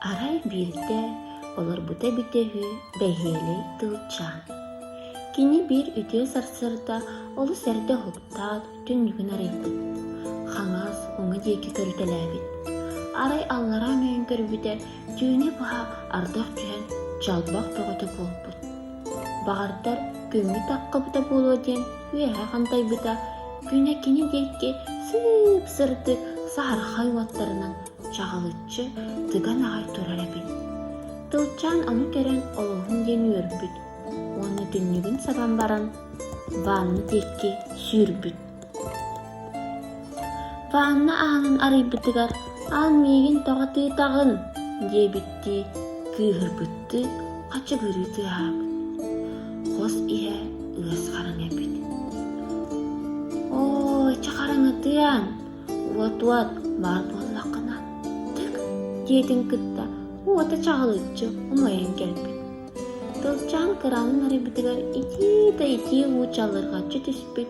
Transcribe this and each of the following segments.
Арай биирдэ олорбута эбитэ үһү бэһиэлэй тылчаан. Кини биир үтүө сарсыарда олус эрдэ уһуктаат, түннүгүн арыйбыт. Хаҥас уҥа диэки көрүтэлээбит. Арай аллараа өҥөйөн көрбүтэ түүнэ быһа ардах түһэн чалбах бөҕөтө буолбут Баҕардар, күҥҥү таххабыта буолуо диэн үөһэ хантайбыта, күнэ кини диэки сыып-сырдык саһархай уоттарынан чаҕылыччы тыган аҕай турар эбит. Тылчаан ону көрөн олоһун диэн үөрбүт уонна түннүгүн сабан баран ванна диэки сүүрбүт. Ванна аанын арыйбытыгар «Аан миигин тоҕутуутаҕын» диэбиттии кыыһырбыттыы хачыгырыы тыаһаабыт. Хос иһэ ыас хараҥа эбит. «Оо, чэ хараҥатыам, уот-уот, баар буоллаххына, тык» диэтин кытта уота чаҕылыччы умайан кэлбит. Тылчаан кыраҕын арыйбытыгар итии да итии уу чалырҕаччы түспүт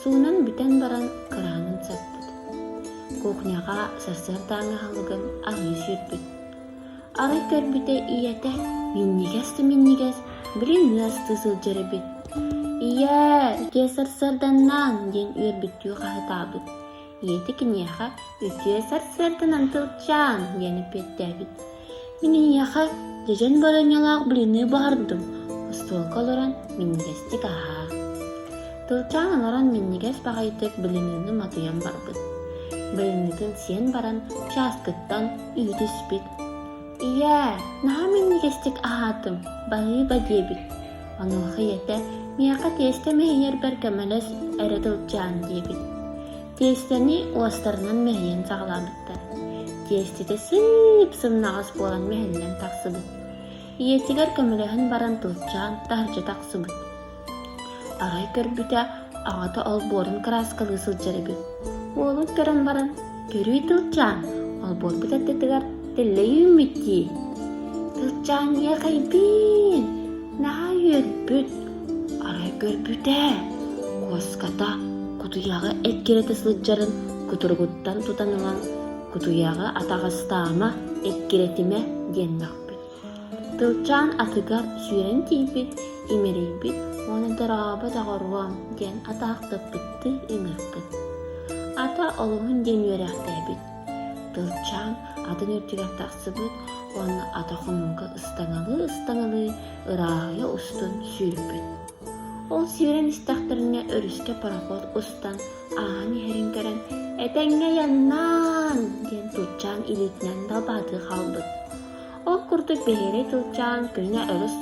Суунан бүтэн баран кыраанын саппыт. Кухняҕа сарсыардааҥы аһылыгын аһыы сүүрбүт. Арай көрбүтэ ийэтэ минньигэс да минньигэс билин ыастыы сылдьар эбит. «Ийээ, киэс сарсыарданнаан» диэн үөрбүттүү хаһытаабыт. Ийэтэ киниэхэ үтүө сарсыарданан тылчаан диэн эппиэттээбит. Мин эйиэхэ дьэдьэн барыанньалаах блины баһардым, остуолга олорон минньигэстик аһаа. Тылчаан олорон минньигэс баҕайытык блинini матыйан барбыт. Блинитин сиэн баран чааскыттан үү түспүт. Ийээ, наһаа минньигэстик аһаатым, баһыы ба диэбит. Онуоха ийэтэ «Миэхэ тиэстэм иһийэрбэр көмөлөс эрэ сылдьаан» диэбит. Тиэстэни уостарынан мэһийэн саҕалаабыттар. Тиэститэ сыып сымнаҕас буолан мэһиллэн тахсыбыт. Ийэтигэр көмөлөһөн баран тулчаан таһырдьа тахсыбыт. Арай көрбүтэ аҕата олбуорун кырааскалыы сылдьар эбит уолун көрөн баран көрүүй тылчаан олбуорбут аттытыгар тэллэй үүммүт дии тылчаан иэхэйбиин наһаа үөрбүт арай көрбүтэ куоската кутуйаҕы эккирэтэ сылдьарын кутуругуттан тутан ылан кутуйаҕы атаҕастаама эккирэтимэ диэннэхпит Тылчаан атыгар сүүрэн тиийбит, имэрийбит уонна дорообо доҕоруом диэн атаахтаппыттыы ыҥырбыт. Ата олуһун диэн үөрээхтээбит. Тылчаан атын үрдүгэр тахсыбыт уонна ата хомуурга ыстаҥалыы-ыстаҥалыы ырааһыйа устун сүүрбүт. Ол сүүрэн истэхтэринэ өрүскэ пароход устан ааһан иһэрин көрөн «Этэҥҥэ айаннаан!» диэн тутчаан илиитинэн далбаатыы хаалбыт. Ол курдук биһиги Чуучаан күҥҥэ олус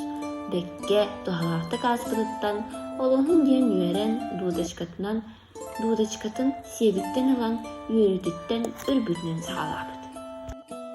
дэккэ, туһалаахтык ааспытыттан олоһун диэн үөрэн дудочкатынан дудочкатын сиэбиттэн ылан үөрүүтүттэн үрбүтүнэн саҕалаабыт